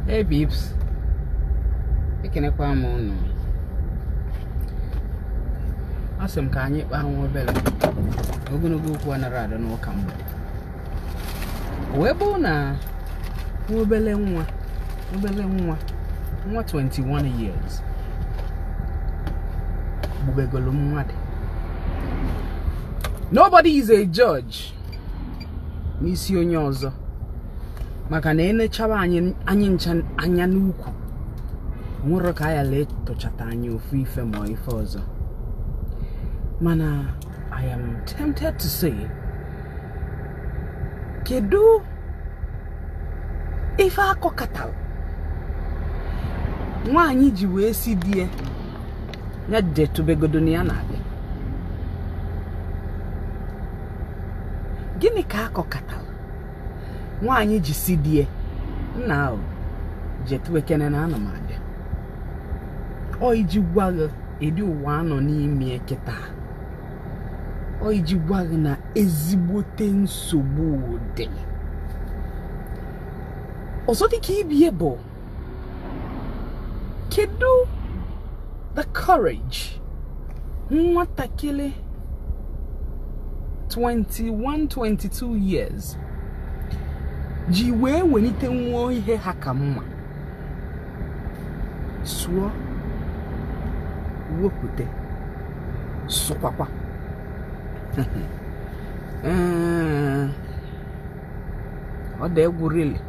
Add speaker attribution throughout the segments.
Speaker 1: Hey babes, ekenekwa m ụnụ. Asị m ka anyị kpaa nwa obere ogologo okwu anara adị n'ụka mgbede bụ na nwa obere nwa obere nwa nwa 21 years gbubegolu mmadụ nobody is a judge n'isi onye ọzọ maka na e nechaba anyị ncha anya n'ukwu nwere ka ya lee tụchata anyị ofu ife maọbụ ife ọzọ mana I am tempted to say kedu ife a kọkatara nwaanyị ji wee sị di ya ya jetụbegodo na ya na-abịa gịnị ka a kọkatara nwaanyị ji sị di ya nna anyị jetụbekene na ana m abịa ọ iji gwa gị ụdị ụwa a nọ n'ime ya kịta ọ iji gwa gị na ezigbote nsogbu dị ọzọ dịka ibie bụ kedu the courage nwatakịrị 21 22 years ji wee welite nwụọ ihe ha ka mma sụọ wepụta sụkwakwa ọ dị egwu really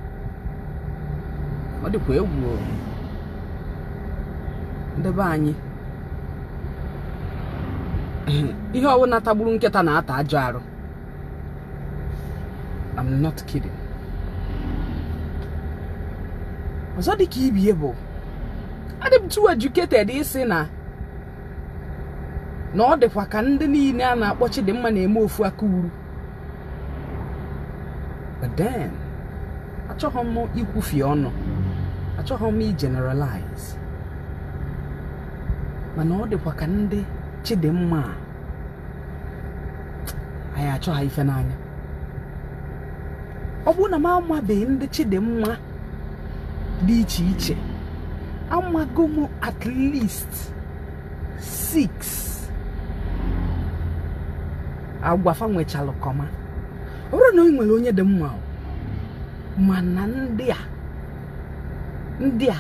Speaker 1: ọ dịkwa egwu o. ndị be anyị ihe ọbụla tagburu nkịta na-ata ajọ arụ I'm not kidding ọzọ dị ka ibie bụ adị m too educated ịsị na na ọ dịkwa ka ndị niile a na-akpọ Chidimma na-eme ofu aka uru but then achọghị m ikwufie ọnụ achọghị m igeneralize mana ọ dịkwa ka ndị Chidimma a anyị achọ ha ife n'anya ọ bụrụ na m amabeghị ndị Chidimma dị iche iche amago m at least 6 agwa fa nwechalụ kọma ọ bụrụ na ị nwere onye dị mma o, mana ndị a ndị a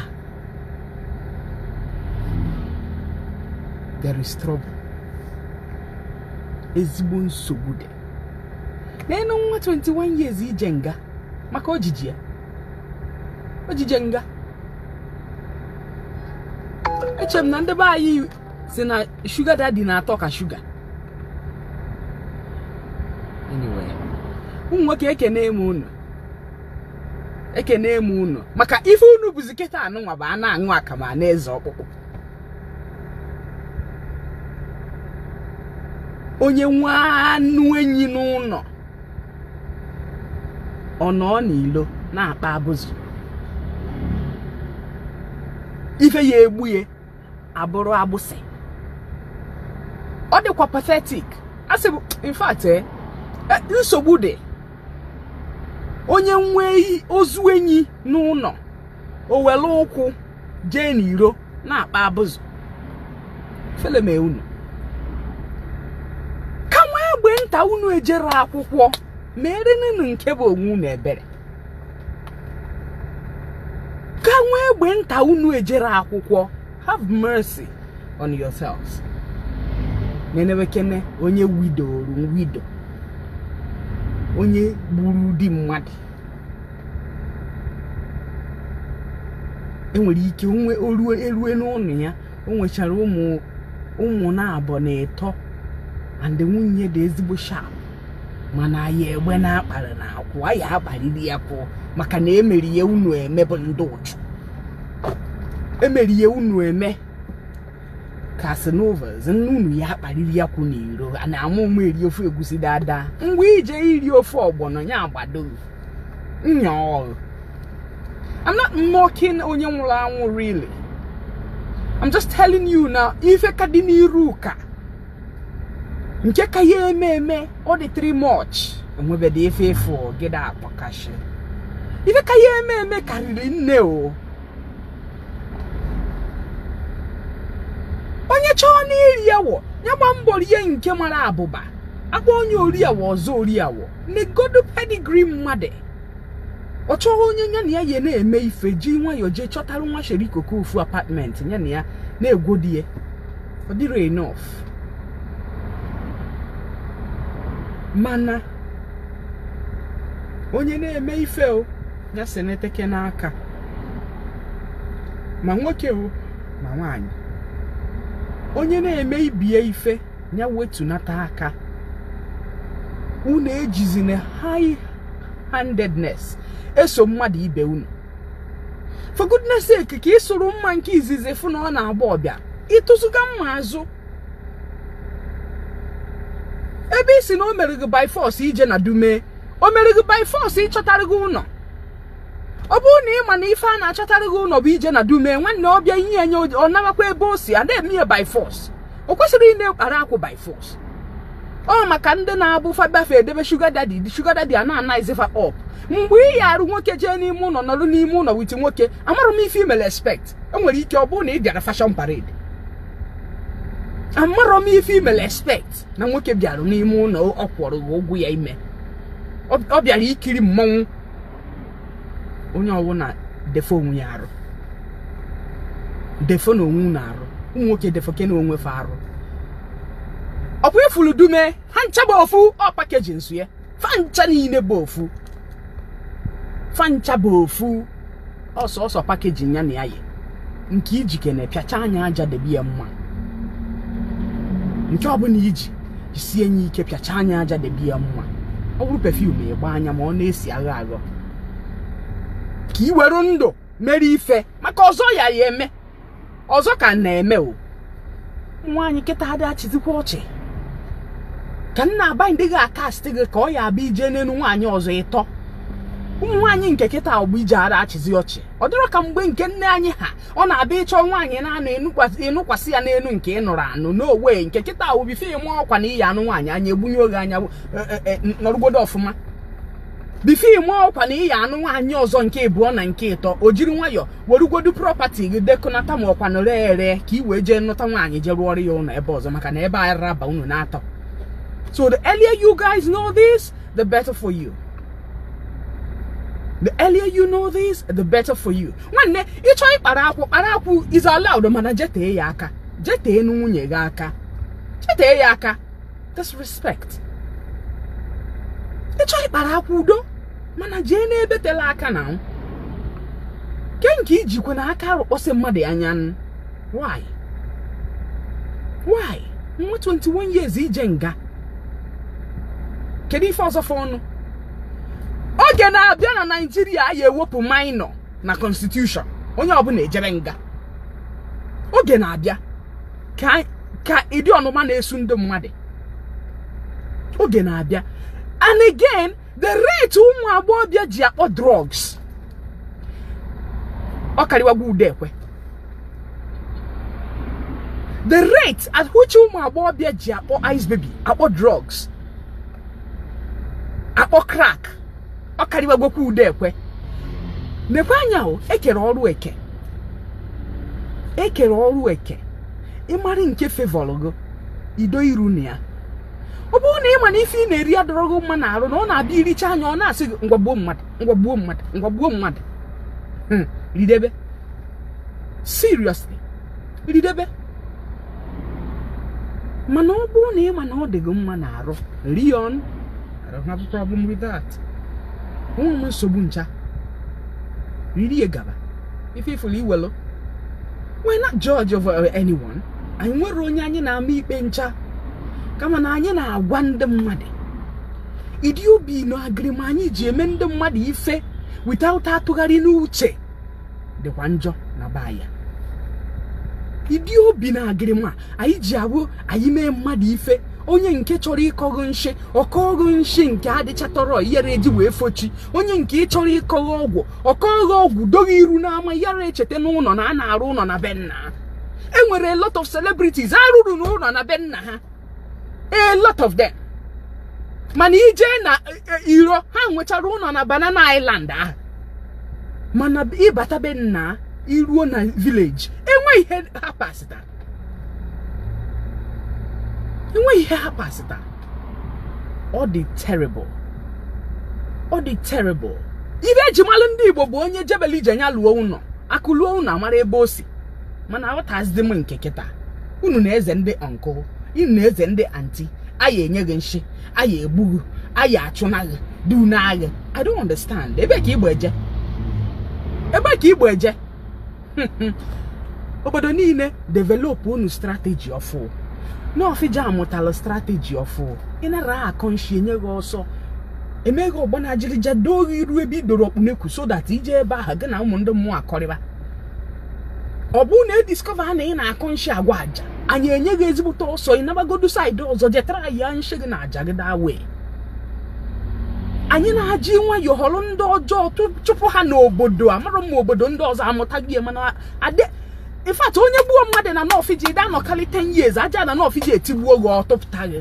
Speaker 1: there is trouble ezigbo nsogbu dị n'enu nwa 21 years ije nga maka ojiji ya ojije nga eche m na ndị be anyị sị na sugar daddy na-atọ ka sugar anyway ụmụ nwoke ekene m unu ekene m unu maka ife unu bụzi kịta anụnwa bụ a na-aṅụ akamụ a na-eze ọkpụkpụ onye nwe anụ enyi n'ụnọ ọ nọ n'ilo na-akpa abụzụ ife ya egbu ya abụrụ agbụsị ọ dịkwa pathetic asị m in fact eh, eh, nsogbu dị onye nwee ozu enyi n'ụnọ o were ụkwụ jee n'iro na-akpa abụzụ ifele mee unu ka nwa egbe nta unu ejere akwụkwọ meerenụnụ nke bụ onwe unu ebere ka nwa egbe nta unu ejere akwụkwọ have mercy on yourselves nenebekene onye widoro widow onye gburu di mmadụ e nwere ike e rue n'ụnọ ya o nwechara ụmụ ụmụ naabọ na ịtọ and nwunye dị ezigbo sharp mana anyị egbe na-akpara n'akwụ a ya-akpariri ya akwụ maka na emeri ya unu eme bụ ndị ụchụ emeri ya unu eme Casanovas na unu ya-akpariri akwụ n'iro a na-ama ụmụ eri ofe egusi dada ngwa i jee iri ofe ọgbọnọ ya agbado nya ọrụ I'm not mocking onye nwụrụ anwụ really I'm just telling you na ife ka dị n'iru ka nke ka ya eme eme ọ dị three much enwebedị ife ịfụ gịda akpọkashi ife ka ya eme eme karịrị nne o onye chọọ iri awọ ya gba mbọ rie nke mara abụba a kpọọ nya ori awọ ọ za ori awọ negodu pedigree mmadụ ọ chọwa onye ya na ya ya na-eme ife ji nwayọọ jee chọtara nwa sherikoko ofu apartment ya na ya na-egwodi ya ọ dịrị enough mana onye na-eme ife o gasị na-eteke n'aka ma nwoke o ma nwaanyị onye na-eme ibie ife ya wetunata aka unu ejizina high handedness eso mmadụ ibe unu for goodness sake ka ị sụrụ mma nke izizi fụ na ọ na-agba ọbịa ịtụzụga mma azụ ebe ị sị na o mere gị by force ije na dume o mere gị by force ịchọtara gị ụlọ ọ bụrụ na ị ma na ife a na-achọtara gị ụlọ bụ ije na dume nwanne ọbịa ihe enye ọ narakwa ebe o si a na-eme ya by force o kwesịrị ị na-ekpara akwụ by force ọ maka ndị na-abụ fabafe edebe sugar daddy the sugar daddy a na-anaghịzi fa ọp mgbe ị ya arụ nwoke jee n'ime ụlọ nọrụ n'ime ụlọ with nwoke amarọ m ife i mere expect o nwere ike ọ bụrụ na ị bịara fashion parade amarọ m ife i mere expect na nwoke bịara n'ime ụlọ ọ kwụrụ gị ụgwọ ya ime ọ bịara ikiri mmọnwụ onye ọbụla defo onwe ya arụ defo na onwe na arụ ụmụ nwoke defo ke na onwe fa arụ ọ bụ ifulu dume ha ncha bụ ofu ọ package nsu ya fancha niile bụ ofu fancha bụ ofu ọ sọọsọ package ya na ya yi nke i jikene pịachaa nya aja debe ya mma nke ọbụla i ji jisie nya ike pịachaa nya aja debe ya mma ọ bụrụ perfume ị gbaa nya ma ọ na-esi agha aghọ ka i were ndụ mere ife maka ọzọ ya ya-eme ọzọ ka na-eme o nwaanyị kịta adị achịzikwa ọchị ka m na-aba ndị gị a-cast gị ka ọ ya abịa ije n'elu nwaanyị ọzọ ịtọ ụmụ nwaanyị nke kịta ọgbụ ije ara achịzi ọchị ọ dịrọ ka mgbe nke nne anyị ha ọ na-abụ ị chọọ nwaanyị na-anụ ị nụkwasị ya n'elu nke ị nụrụ anụ n'owe nke kịta before ị maa ọkwa na ị ya-anụ nwaanyị anya egbunye oge anya e, e, e, nọrụgodo ọfụma before ị maa ọkwa na ị ya-anụ nwaanyị ọzọ nke ịbụọ na nke ịtọ i jiri nwayọọ werugodu property gị dekọnata maa ọkwa nọrọ ere ka i wee jee nụta nwaanyị jee rụọrọ ya ụlọ ebe ọzọ maka na ebe a ara aba unu n'atọ so the earlier you guys know this the better for you the earlier you know this the better for you nwanne ị chọọ ịkpara akwụ kpara akwụ is allowed mana jetee ya aka jetee nwunye gị aka jetee ya aka disrespect ị chọọ ịkpara akwụ udo mana jee n'ebe tele aka na nwoke nke i jikwe n'aka arụkpọsị mmadụ anya why why nwa 21 years ije nga kedu ife ọzọ fọrọnụ oge na-abịa na naịjirịa a ya-ewepụ minor na constitution onye ọbụla ejere nga oge na-abịa ka ịdị ọnụma na-esu ndị mmadụ oge na-abịa and again the rate ụmụ agbọghọbịa ji akpọ drugs ọ karịwago ude ekwe the rate at which ụmụ agbọghọbịa ji akpọ ice baby akpọ drugs akpọ crack ọ karịwagokwa ude ekwe mekwa anya o ekere ọrụ eke ekere ọrụ eke ịmara nke fevọlụ gị ido iru na ya ọ bụrụ na ị ma na ife ị na-eri adịrọ gị mma na arụ na ọ na-abụ iricha nya ọ na-asị gị ngwa gbuo mmadụ ngwa gbuo mmadụ ngwa gbuo mmadụ ridebe seriously ridebe mana ọ bụrụ na ị ma na ọ dị gị mma na arụ rie ọ nwerọ problem with that enwerọ m nsogbu ncha ririe gaba ife ifụlụ iwelụ we're not judge of uh, anyone anyị enwerọ onye anyị na-ama ikpe ncha kama na anyị na-agwa ndị mmadụ ịdị obi na agịrịma anyị ji eme ndị mmadụ ife without atụgharị n'uche dịkwa njọ na be anyị ịdị obi na-agịrị ma anyị ji abụ anyị mee mmadụ ife onye nke chọrọ ịkọ gị nshi ọ kọọ gị nshi nke adịchatọrọ yara eji wee fochi onye nke chọrọ ịkọ gị ọgwụ ọ kọọ gị ọgwụ doo gị iru n'ama yara echeta n'ụnọ na a na-arụ ụnọ na be nna ha enwere a lot of celebrities arụrọ ụnọ na be nna ha a lot of them mana ije na e, iro ha nwechara ụnọ na banana island ahụ mana ịbata be nna iruo na village enweghị ihe ha pasịtara enweghị ihe ha pasịtara ọ dị terrible ọ dị terrible ihe eji malụ ndị igbo bụ onye jebele ije nya lụọ ụnọ akụ luo ụnọ amara ebe o si mana aghọtazi m nke kịta unu na-eze ndị uncle unu na-eze ndị aunty anyị enye gị nshi anyị egbu gị anyị achụna gị du n'agha i don't understand ebe ka igbo eje ebe ka igbo eje obodo niile develop unu strategy ọfụụ nawfija amụtala strategy ọfụụ ị na-akọ nshi enye gị ọsọ emee gị ọgbọ n'ajịrịja doo gị iru ebe idoro ọkpụ n'ekwu so that ije ebe ahụ gị na ụmụ ndị mmụọ akọrịba ọ bụrụ na e discover na ị na-akọ nshi agwa aja anyị enye gị ezigbote ọsọ ị nabagodu side ọzọ jetara ya nshi gị na aja gị daa wee anyị na-eji nwayọ họrọ ndị ọjọọ chụpụ ha n'obodo amara m obodo ndị ọzọ amụta gị mana ade in fact onye gbuo mmadụ na nawfija dị anọkarị 10 years aja na nawfija etigbuo gị ọtụpụta gị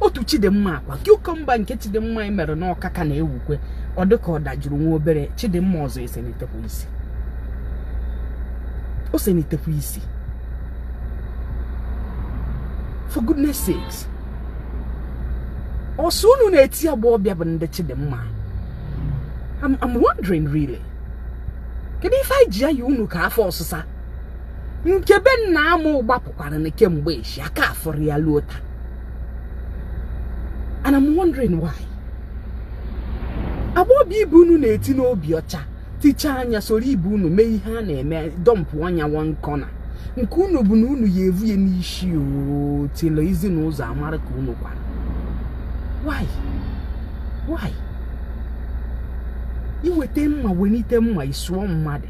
Speaker 1: otu chidimma akwa cucumber nke chidimma anyị mere n'ọka ka na-ewukwa ọ dịka ọ dajuru nwa obere chidimma ọzọ esenitekwa isi o senitekwa isi for goodness sakes ọ sọ unu na-eti agbọghọbịa bụ ndị chidimma I'm, I'm wondering really kedu ife anyị ji ya yi unu ka afọ ọsụsa nke be nna ama ụgbapụkwara na kemgbe echi aka afụrọ ya luo taa and I'm wondering why agbọghọbịa ibe unu na-eti n'obi ọcha tichaa anya soro ibe unu mee ihe a na-eme dọmpụa ya na one corner nke unu bụ na unu ya evu ya n'isi otilo ezi na ụzọ amara ka unu kwara why why iweta mma welite mma isuo mmadụ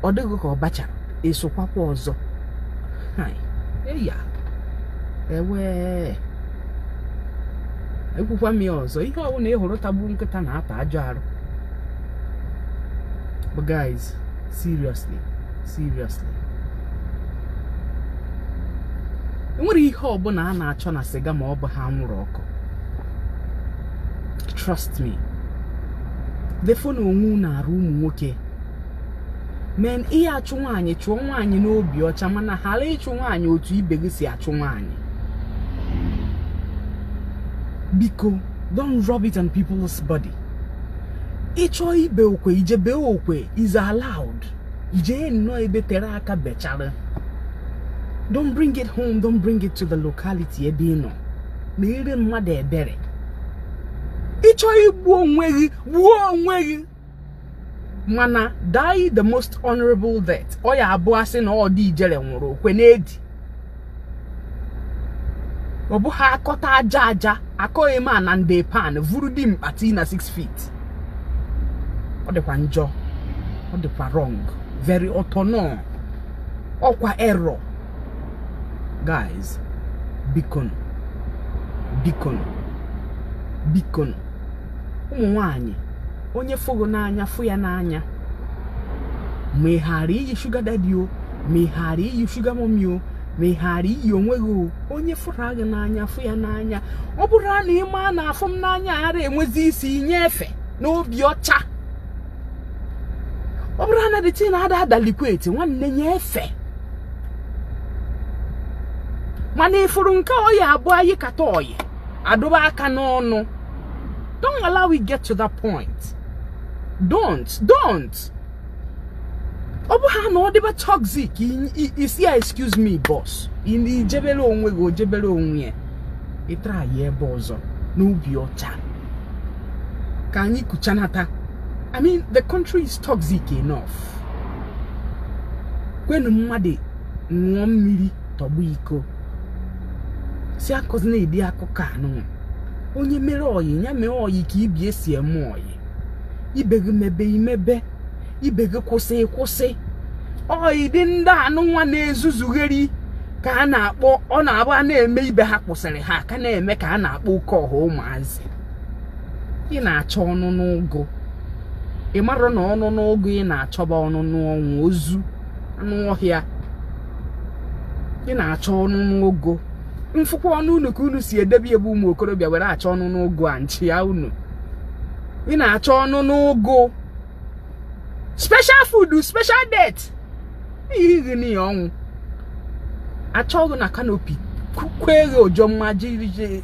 Speaker 1: ọ dịghị ka ọbacha esokwakwa ọzọ eya ewee ekwukwa m ya ọzọ ihe ọbụla ị hụrụ tagbu nkịta na-ata ajọ arụ but guys seriously seriously enwere ihe ọbụla a na-achọ na sịga ma ọ bụ anwụrụ ọkụ trust me defo na onwe unu arụ ụmụ nwoke men ị ya achụ nwaanyị chụọ nwaanyị n'obi ọcha mana ghara ịchụ nwaanyị otu ibe gị si achụ nwaanyị biko don't rub it on people's body ị chọọ ibe okwe i je bee okwe is allowed jee nnọọ ebe tere aka bechara don't bring it home don't bring it to the locality ebe ị nọ nwere mmadụ ebere ị chọọ igbu onwe gị gbuo onwe gị mana die the most honorable death ọ ya abụ a sị na ọ dị ijere nwụrụ okwe n'edi ọ bụ ha akọta aja aja akọghị m na ndị pan vuru dimkpa tii na 6 feet ọ dịkwa njọ ọ dịkwa wrong very autonom ọkwa error guys bikonu bikonu bikonu ụmụ nwanyị onye fụ gị n'anya fụ ya n'anya ma ị ghara ịyị sugar daddy o ma ị ghara ịyị sugar mummy o ma ị ghara ịyị onwe gị o onye fụrụ gị n'anya fụ ya n'anya ọ bụrụ na ị maa na afụ m n'anya ara enwezi isi i nye efe n'obi ọcha ọ bụrụ na dị tii na-ada adalikweti nwanne nye efe mana ị fụrụ nke ọyị abụọ ayịkata ọyị adụba aka n'ọnụ don't allow it get to that point don't don't ọ bụ ha na ọ dịba toxic ị sị ya excuse me boss i jebere onwe gị o jebere onwe ya ị try ya ebe ọzọ n'obi ọcha ka anyị kuchanata i mean the country is toxic enough kwenu mmadụ ṅụọ mmiri tọgbọ iko sị akọzina ụdị akụkọ anụ nwa onye mere oyi ya mee oyi ka ibe si eme oyi ibe gị mebe i mebe ibe gị kwụsị ị kwụsị oyi dị ndị anụ nwa na-ezuzugheri ka a na-akpọ ọ na-abụ a na-eme ibe ha kwụsịrị ha ka na-eme ka a na-akpọ oke ọha ụmụazị ị na-achọ ọnụ n'ụgụ ị marụ na ọnụ n'ụgụ ị na-achọba ọnụ n'ọnwụ ozu anụ ọhịa ị na-achọ ọnụ n'ogo m fụkwa ọnụ unu ka unu si edebe ebe ụmụ okorobịa were achọ ọnụ n'ogo a nchi ya unu ị na-achọ ọnụ n'ogo special food special death ihighị n'ihi ọnwụ achọ gị na kanopi kukwe eghe ojo mma ji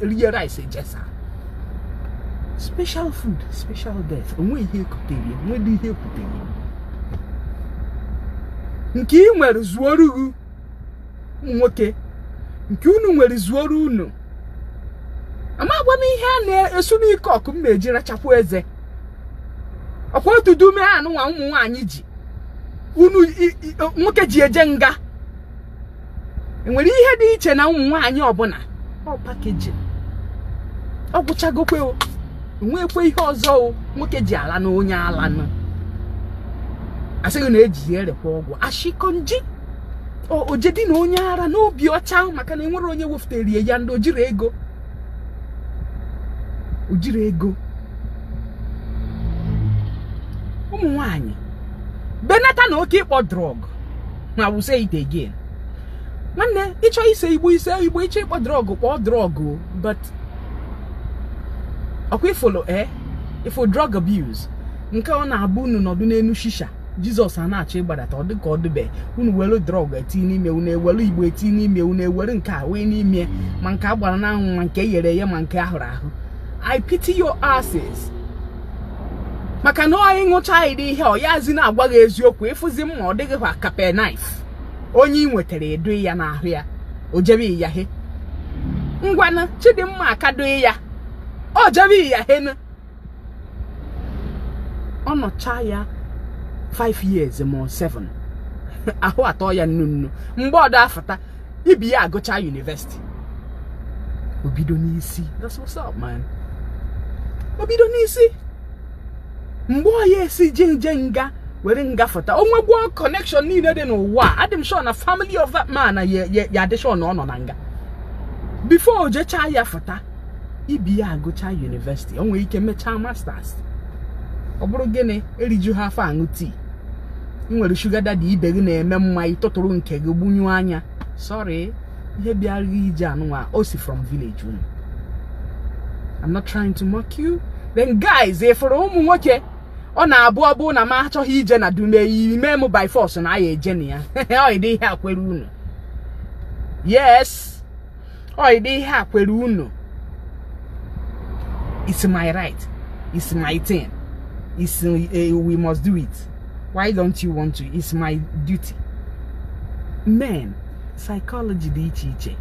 Speaker 1: rie rice ejesa special food special death o nwe ihe e kutere o nwe dị ihe ekutere nke ị nwere zuoru gị ụmụ nwoke nke unu nwere zuoru unu amagwa m ihe a na-esu n'ike ọkụ m na-eji rachapụ eze ọkwa otu dume anụ nwa ụmụ nwaanyị ji ụmụ nwoke ji eje nga enwere ihe dị iche na ụmụ nwaanyị ọ bụ na ọ package ọ gwụchagokwe o nwekwe ihe ọzọ o nwoke ji ala na onye ala nụ asịghị na eji ya erekwa ọgwụ ashi konji ojedi na onye ara n'obi ọcha maka na enwere onye wefụtara ya ndị ojiri ego ojiri ego ụmụ nwanyị benata na oke ịkpọ drug i will say it again nwanne ị chọ ise igbo i see igbo ị chọ ịkpọ drug kpọọ drug but ọkwa ị fụlụ e eh? ị fụ drug abuse nke ọ na-abụ unu nọdụ n'elu shisha jesus a na-achọ ịgbadata ọ dịka ọ dịbe unu welu drug eti n'ime unu ewelu igbo eti n'ime unu ewere nke a wee n'ime ma nke a gbara n'anwụ ma nke e ghere eghe ma nke a hụrụ ahụ i pity your asses maka na onye ṅụcha ụdị ihe ọ yazi na-agwa gị eziokwu ị fụzi mma ọ dị gị kwa ka penknife onye ị nwetara ị dụ ya n'ahụ ya o jebe ya he ngwanụ chidimma aka dụ ya o jebe ya henu ọ nọcha ya 5 years ma 7 ahụ atọ ya nnu nnu mgbe ọdọ afụta ibe ya agụchaa university o bido n'isi that's what's up man o bido n'isi mgbe ọ ya-esi je nje nga were nga fụta o nwegwuo connection niile dị n'ụwa adị m sure na family of that man na ya ya- ya adị sure na ọ nọ na nga before o jechaa ya fụta ibe ya agụchaa university o nwere ike mechaa masters ọ bụrụ gịnị eriju ha afọ aṅụọ tii ị nwere sugar daddy ibe gị na-eme mma ị tụtụrụ nke gị gbunye anya sorry ihe bịara gị ije anụnwa o si from village unu I'm not trying to mock you then guys ị fụrụ ụmụ nwoke ọ na-abụ ọ bụrụ na m achọghị ije na dume ime m by force na anyị eje na ya ọ dị ihe a kwere unu yes ọ dị ihe a kwere unu it's my right it's my thing it's uh, we must do it why don't you want to it's my duty men psychology dị iche iche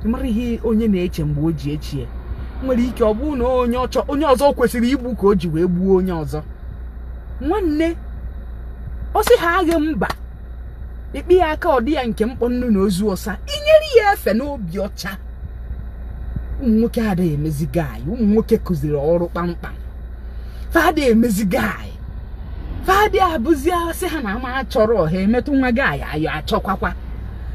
Speaker 1: mara ihe onye na-eche mgbe o ji echie o nwere ike ọ bụrụ na onye ọ chọ onye ọzọ kwesịrị igbu ka o ji wee gbuo onye ọzọ nwanne ọ sị ha agha mba ikpe ya aka ọdị ya nke mkpọ nnu na ozu ọsa inyere ya efe n'obi ọcha ụmụ nwoke adịghị emezi guy ụmụ nwoke kụziri ọrụ kpamkpam fa adị emezi guy fa adị abụzi a sị ha na ama achọrọ ha emetụ nwa guy ayọ achọkwakwa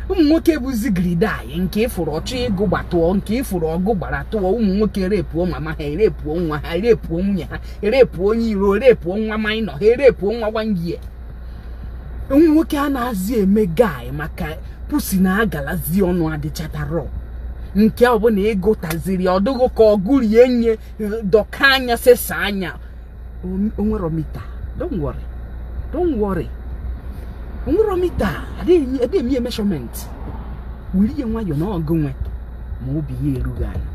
Speaker 1: ụmụ nwoke bụzi gridaị nke ị fụrụ ọ chọọ ịgụ gbatụọ nke ị fụrụ ọgụ gbara tụọ ụmụ nwoke erepuo mama ha erepuo nwa ha erepuo nwunye ha erepuo onye iro erepuo nwa minor ha erepuo nwa gwangie nwoke anazị eme guy maka pussy na agalazi ọnụ adịchatara nke ọbụla ịgụtaziri ọdụghụ ka ọ gụrụ ya nye dọkaa anya sesaa anya o nwero meter don't worry don't worry o nwero meter adịghị eme ya measurement were ihe nwayọọ na ọgụ nwe ma obi ya erughị ala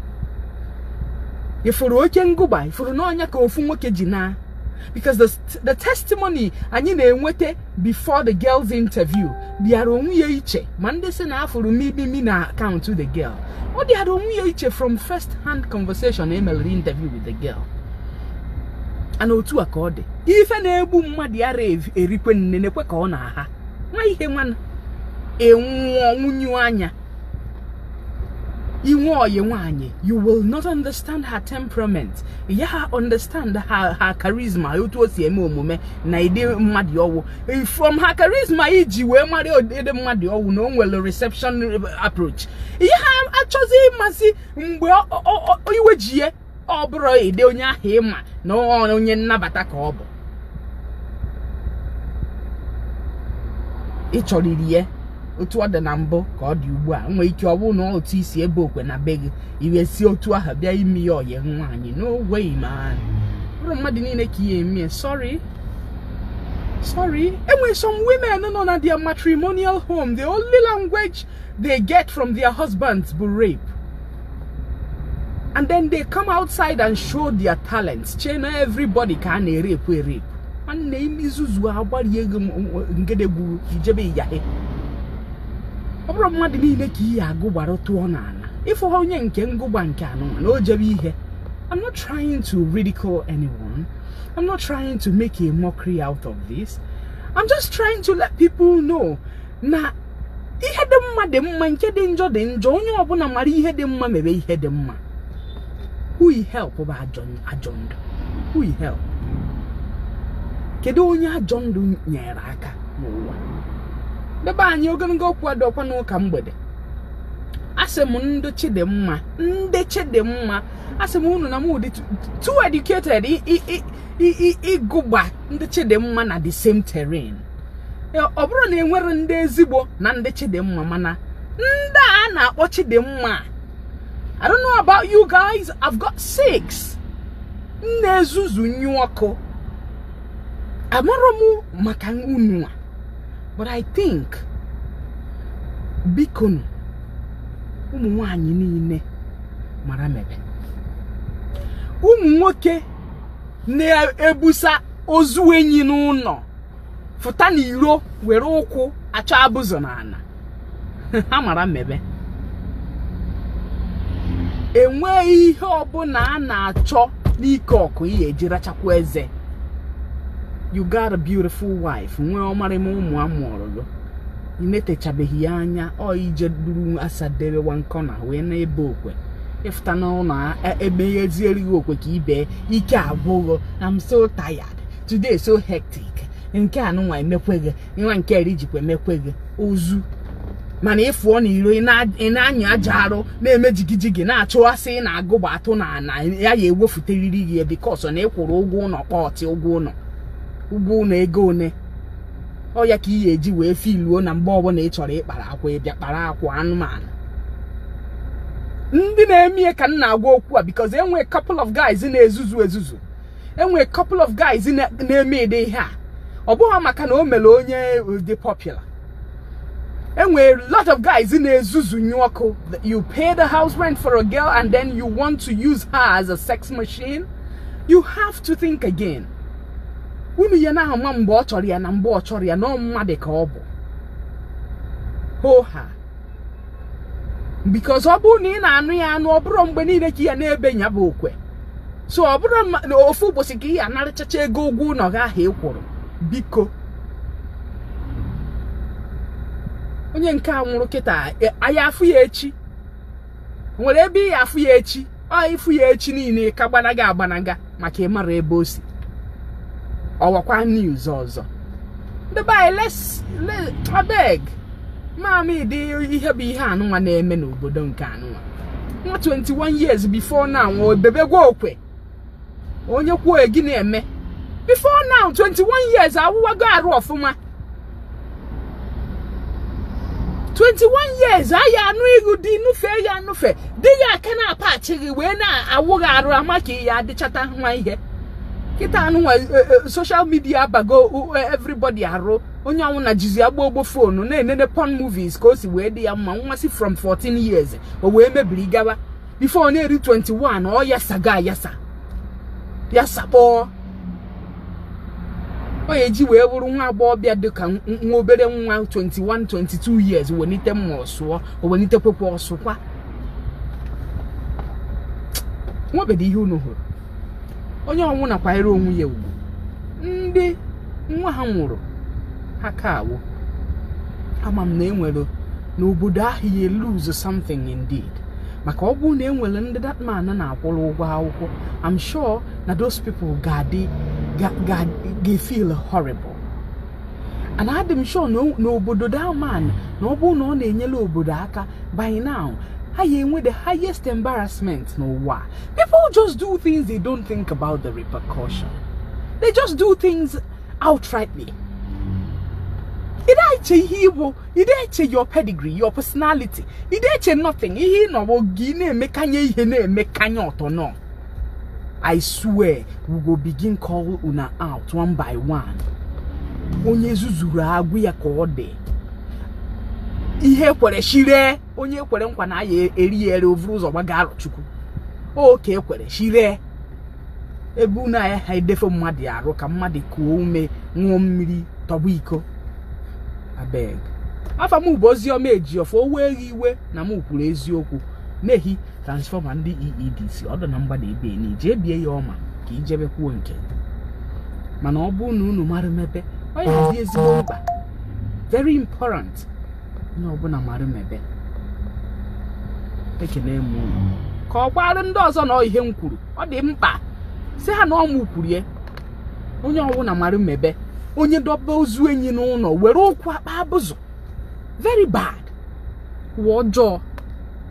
Speaker 1: ị fụrụ oke ngụba ị fụrụ n'anya ka ofu nwoke ji na because the, the testimony anyị na-enweta before the girl's interview dịara onwe ya iche ma ndị sị na a fụrụ mimimi na account the girl ọ dịara onwe ya iche from first hand conversation emelere interview with the girl and otu a ka ọ dị ife na-egbu mmadụ ya erikwe nne na-ekwe ka ọ na-aha nwa ihe nwana enwụọ nwunyu anya i nwee ọyị nwanyị you will not understand her temperament ị yaha understand her her charisma otu o si eme omume na ụdị mmadụ ọ wụ eh, from her charisma i ji wee mara ụdị mmadụ ọ wụ na o nwere reception approach ị yaha achọzi ịmasị mgbe iwe ji ya ọ bụrụ ide onye ahụ ịma na onye nnabata ka ọ bụ ị chọrịrị ya otu ọ dị na mbụ ka ọ dị ugbu a nwee ike ọ bụrụ na otu i si ebe okwe na be gị i wee si otu ahụ bịa ime ya ọyị nwaanyị n'ogwe ma bụrọ mmadụ niile ka ị ya-eme sorry sorry enwere some women nọ na their matrimonial home the only language they get from their husbands bụ rape and then they come outside and show their talents chee na everybody ka a na-erape erape nwanne i mee izuzu agbarie gị ngedegwu ijebe ịyahe ọ bụrọ mmadụ niile ka ị ya-agụgbara tụọ n'ana ịfụ ha onye nke ngụgba nke anụ na o jebe ihe I'm not trying to ridicule anyone I'm not trying to make a mockery out of this I'm just trying to let people know na ihe dị mma dị mma nke dị njọ dị njọ onye ọbụna mara ihe dị mma mebe ihe dị mma who you help bụ ajọ ajọ ndụ who you help kedu onye ajọ ndụ nyere aka n'ụwa ndị be anyị ogologo okwu adịrọkwa n'ụka mgbede asị m ndị chidimma ndị chidimma asị m unu na mụ dị too educated i- i- i- i- i- ịgụgba ndị chidimma na the same terrain ọ bụrụ na enwere ndị ezigbo na ndị chidimma mana ndị a na-akpọ chidimma I don't know about you guys I've got six na-ezuzu nyu ọkụ amarọ m maka unu a but I think bikonu ụmụ nwanyị niile mara mebe ụmụ nwoke na-ebusa ozu enyi n'ụnọ fụta na iro were ụkwụ achọ abụzụ n'ana ha mara mebe enweghị ihe ọbụna a na-achọ n'ike ọkụ ihe eji rachakwa eze you got a beautiful wife nwee ọmarịma ụmụ amụọrọ gị i netechabeghị ya anya ọ i je buru asa debe one corner wee na-ebe okwe ịfụta n'ụlọ ebe ya ezierighị okwe ka i be ike agwụ gị I'm so tired today so hectic nke a nụnwa emekweghị nwa nke eri jikwa emekweghị ozu mana ịfụọ na iro ị na-anyụ aja arụ na-eme jigijigi na-achụwasị ị na-agụgba atụ na ana ya ya ewefuteriri gị because na ịkwụrụ ụgwọ ụlọ kpọtị ụgwọ ụlọ ụgwọ ụlọ ego one ọ ya ka ị ga-eji wee filuo na mgbe ọbụla ị chọrọ ịkpara akwa ịbịa kpara akwa anụmanụ ndị na-eme ya ka m na-agwa okwu a because enwee couple of guys na-ezuzu ezuzu enwere couple of guys na-eme ụdị ihe a ọ bụghị maka na o mere onye dị popular enwere lot of guys na-ezuzu nye ọkụ you pay the house rent for a girl and then you want to use her as a sex machine you have to think again unu ya na-ama mgbe ọ chọrọ ya na mgbe ọ chọrọ ya na mmadụ ka ọ bụ hoha because ọ bụrụ na ị na-anụ ya anụ ọ bụrọ mgbe niile ka ị ya na-ebe ya bụ okwe so ọ bụrọ n'ofu ụbọchị ka ị ya anarachacha ego ụgwọ ụlọ gị ahụ ị kwụrụ biko onye nke a nwụrụ kịta a ya afụ ya echi nwere ebe ị ya afụ ya echi ọ ịfụ ya echi niile ka gbanaga agbanaga maka ịmara ebe o si ọ wụkwa news ọzọ ndị be anyị les abeg ma m ụdị ihe bụ ihe anụnwa na-eme n'obodo nke anụnwa nwa 21 years before now ebebegwa okwe onye kwuo gị na-eme before now 21 years awụwago arụ ọfụma 21 years anyị anụ ihu dị nụfe ya anụfe dị ya aka na-apachi gị wee na-awụ gị arụ ama ka ya adịchata nwa ihe kịta anụnwa eh, eh, social media abago eh, everybody arụ onye ọnwụna jizi agba ogbo phone na-enene porn movies ka o si wee dị ya mma nwa si from 14 years o wee mebiri gawa before ọ na-eru 21 ọ yasago ayasa yasa kpọọ ọ ya eji wee bụrụ nwa agbọghọbịa dị ka nwa obere nwa 21 22 years welite mma ọ sụọ welite kwekwa ọ sụkwa nwebedo ihe unu hụrụ onye ọnwụna kwanyere onwe ya ugwu ndị nwa ha nwụrụ ha ka awụ ama m na enwere n'obodo ahụ ya lose something indeed maka ọ bụrụ na enwere ndị that man na-akwụrụ ụgwọ akwụkwọ I'm sure na those people ga-feel horrible and adị m sure na obodo that man na ọ bụrụ na ọ na-enyere obodo aka by now ha ya enwe the highest embarrassment n'ụwa People just do things they don't think about the repercussion. They just do things outrightly. Ị dị eche ihe ị bụ ị dị eche your pedigree your personality ị dị eche nothing ihe ịnọwo gị na-emekanye ihe na-emekanye ọtọ nọ I swear we go begin call una out one by one onye zuzuru a gwa ya ka ọ dị ihe kwere shire onye kwere nkwa na a ya-ere ya ere o vuru ụzọ gbaga Arọchukwu oke ekwere chiree ebe unu ayaha edefe mmadụ arụ ka mmadụ kuo ume ṅụọ mmiri tọgbọ iko abeg afa m bụ Oziọma Ejiọfọ o weghị iwe na m kwuru eziokwu n'ihi transformer ndị EEDC ọ dụ na mgbada ebe na ije bie ya ọma ka ijebe kwuo nke mana ọ bụ na unu mara mebe ọ ya-adị ezigbo mkpa very important onye ọbụna mara mebe ekene m unu ka ọ gwaara ndị ọzọ na ihe m kwuru ọ dị mkpa sị ha na ọ mụ kwuru ya onye ọbụna mara mebe onye doba ozu enyi n'ụnọ were ụkwụ akpa abụzụ very bad ụwa ọjọọ